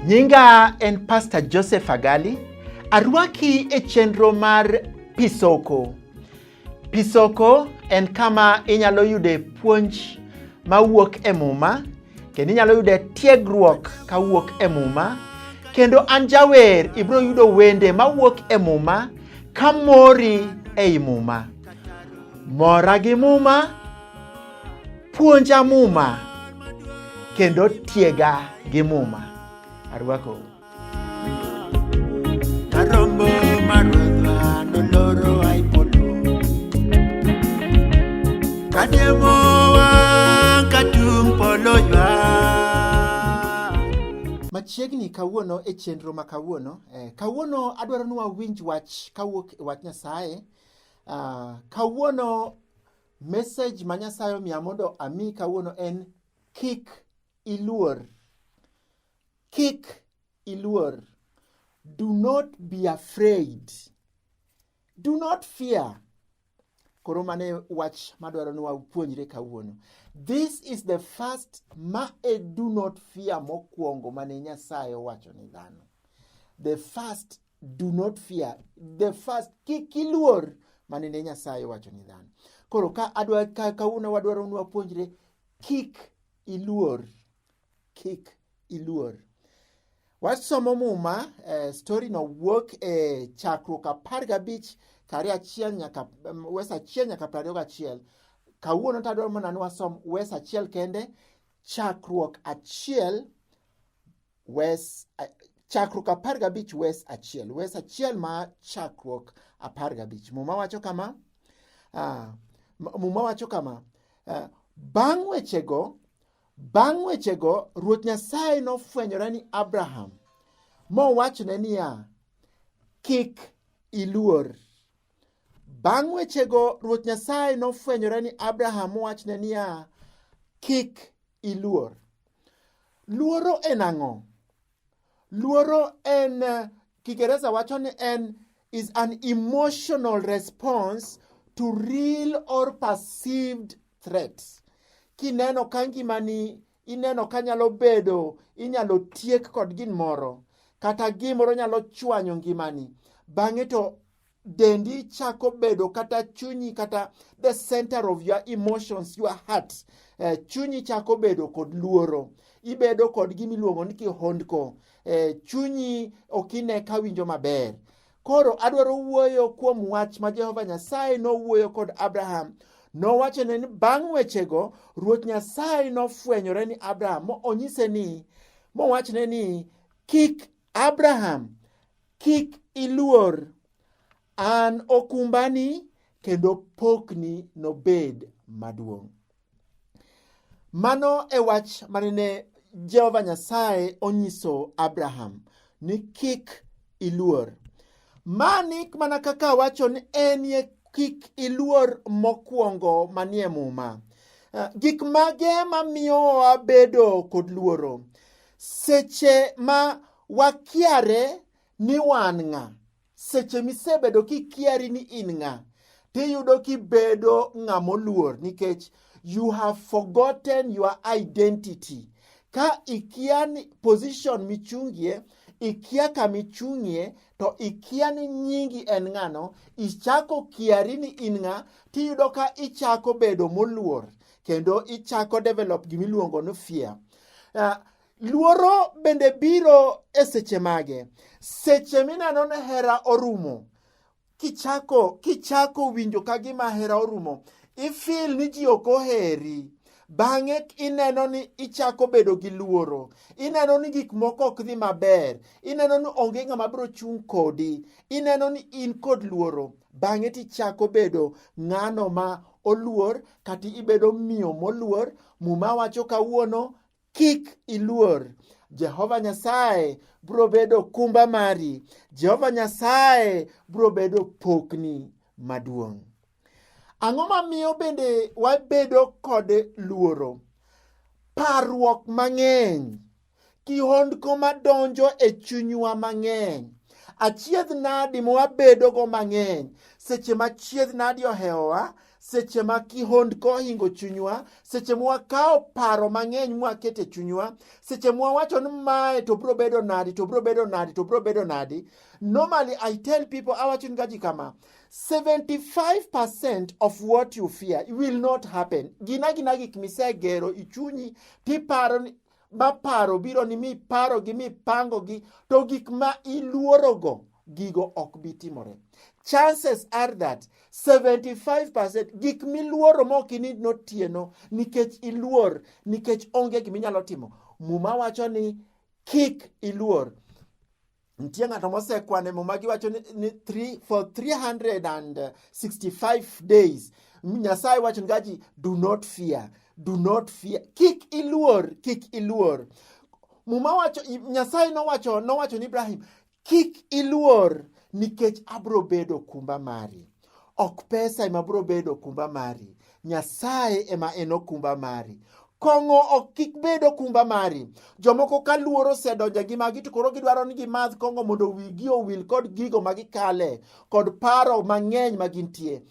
Nyinga en Pastor Joseph Agali. Arwaki e chenro mar Pisoko. Pisoko en kama inyalo yude puonj mawuok e Muma kendo inyalo yude tiegruok kawuok e Muma kendo an jawer ibiro yudo wende mawuok e Muma ka mori ei Muma. Mora gi Muma, puonja Muma kendo tiega gi Muma. Arwakou. Machiegni kawuono e chenro ma kawuono eh, kawuono adwaro ni wawinj wach kawuok e wach Nyasaye. Uh, kawuono message ma Nyasaye omiya mondo ami kawuono en kik iluor. Kik iluor. Do not be afraid. Do not fear. Koro mane wach madwaro ni wapuonjre kawuono. This is the first ma e do not fear mokwongo mane Nyasaye owacho ni dhano. The first do not fear. The first kik iluor mane ne Nyasaye owacho ni dhano. Koro ka adwa ka kawuono wadwaro ni wapuonjre kik iluor. kik iluor. Wasomo muma eh, story no wuok e chakruok apar gabich kari achiel nyaka um, wes achiel nyaka piero ariyo gachiel. Kawuono to adwaro mana ni wasom wes achiel kende chakruok achiel wes a- chakruok apar gabich wes achiel wes achiel ma chakruok apar gabich muma wacho kama ah, m- muma wacho kama ah, bang' wechego Bang' wechego, Ruoth Nyasaye nofwenyore ni Abraham mowachone niya, Kik iluor. Bang' wechego, Ruoth Nyasaye nofwenyore ni Abraham mowachne niya, Kik iluor. Luoro en ang'o? Luoro en eh, Kiingereza wacho ni en is an emotional response to real or perceived threats. Kineno ka ngimani ineno ka nyalo bedo inyalo tiek kod gin moro kata gimoro nyalo chwanyo ngimani bang'e to dendi chako bedo kata chunyi kata the center of your emotions your heart eh, chunyi chako bedo kod luoro ibedo kod gima iluongo ni kihondko eh, chunyi ok ine ka winjo maber koro adwaro wuoyo kuom wach ma jehova nyasaye nowuoyo kod abraham nowachone ni bang' wechego ruoth nyasaye nofwenyore ni abraham mo onyise ni mowachne ni kik Abraham, kik iluor, an okumbani kendo pokni nobed maduong'. Mano e wach manene Jehova Nyasaye onyiso Abraham ni kik iluor. Mani mana kaka wacho ni enie kik iluor mokwongo manie Muma. Eh, gik mage mamiyo wabedo kod luoro? Seche ma wakiare ni wan ng'a, seche misebedo kikiari ni in ng'a, tiyudo kibedo ng'a moluor nikech you have forgotten your identity. Ka ikia ni position michungie ikia kama ichung'ie to ikia ni nyingi en ng'ano ichako kiari ni in ng'a tiyudo ka ichako bedo moluor kendo ichako develop gimiluongo ni fear Uh, luoro bende biro e seche mage? Seche mineno ni hera orumo, kichako kichako winjo ka gima hera orumo, ifil ni ji ok oheri bang'e ineno ni ichako bedo gi luoro ineno ni gik moko ok dhi maber ineno ni onge ng'ama biro chung' kodi ineno ni in kod luoro bang'e tichako bedo ng'ano ma oluor kata ibedo miyo moluor muma wacho kawuono kik iluor jehova nyasaye bro bedo kumba mari jehova nyasaye bro bedo pokni maduong' ang'o mamiyo bende wabedo kod luoro parruok mang'eny kihondko madonjo e chunywa mang'eny achiedh nadi mwabedogo mang'eny seche ma chiedh nadi ohewowa seche ma kihondko ohingo chunywa seche mwakawo paro mang'eny mwakete chunywa seche mwawacho ni mae to bro bedo nadi to bro bedo nadi to bro bedo nadi normally i tell people awacho ni gaji kama 75% of what you fear will not happen. Gina gina gik misegero ichunyi tiparo ma paro biro ni miparogi mipangogi to gik ma iluorogo gigo ok bi timore chances are that 75% gik miluoro ma ok inid notieno nikech iluor nikech onge gima inyalo timo muma wacho ni kik iluor Nitie ng'ato mosekwane muma giwacho ni, ni three, for 365 days Nyasaye wacho ni gaji do not fear, do not fear, kik iluor, kik iluor. Muma wacho Nyasaye nowacho nowacho ni Ibrahim kik iluor nikech abro bedo kumba mari. Ok pesa ema biro bedo okumba mari, Nyasaye ema en okumba mari. Kong'o ok kik bed okumba mari. Jomoko ka luoro osedonjo gi magi to koro gidwaro ni gimadh kong'o mondo wigi owil kod gigo ma gikale kod paro mang'eny ma gintie.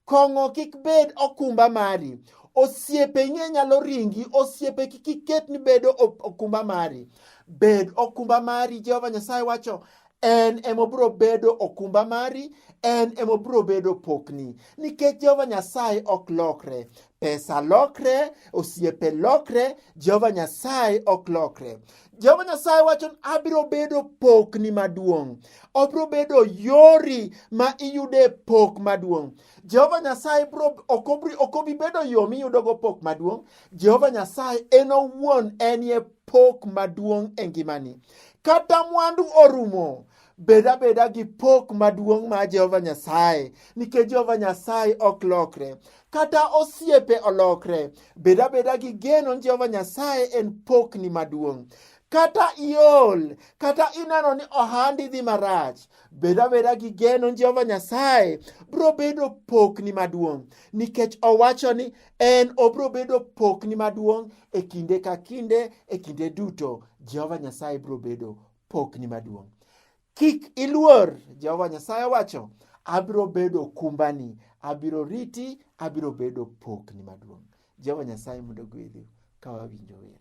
Kong'o kik bed okumba mari. Osiepe ing'e nyalo ringi, osiepe kik iket ni bedo okumba mari. Bed okumba mari, Jehova Nyasaye wacho, en emobiro bedo okumba mari en emobiro bedo pokni nikech jehova nyasaye ok lokre pesa lokre osiepe lokre jehova nyasaye ok lokre jehova nyasaye wacho ni abiro bedo pokni maduong' obiro bedo yori ma iyude pok maduong' jehova nyasaye ok obi bedo yo miyudogo pok maduong' jehova nyasaye en owuon enie pok maduong' e ngimani kata mwandu orumo bed abeda gi pok maduong' ma Jehova Nyasaye nikech Jehova Nyasaye ok lokre kata osiepe olokre bed abeda gi geno ni Jehova Nyasaye en pokni maduong' kata iol kata ineno ni ohandi dhi marach bed abeda gi geno ni Jehova Nyasaye biro bedo pokni maduong' nikech owacho ni en obiro bedo pokni maduong' e kinde ka kinde e kinde duto jehova nyasaye biro bedo pokni maduong' kik iluor jehova nyasaye wacho abiro bedo kumbani abiro riti abiro bedo pokni maduong' jehova nyasaye mondo gwedhu ka wawinjo wer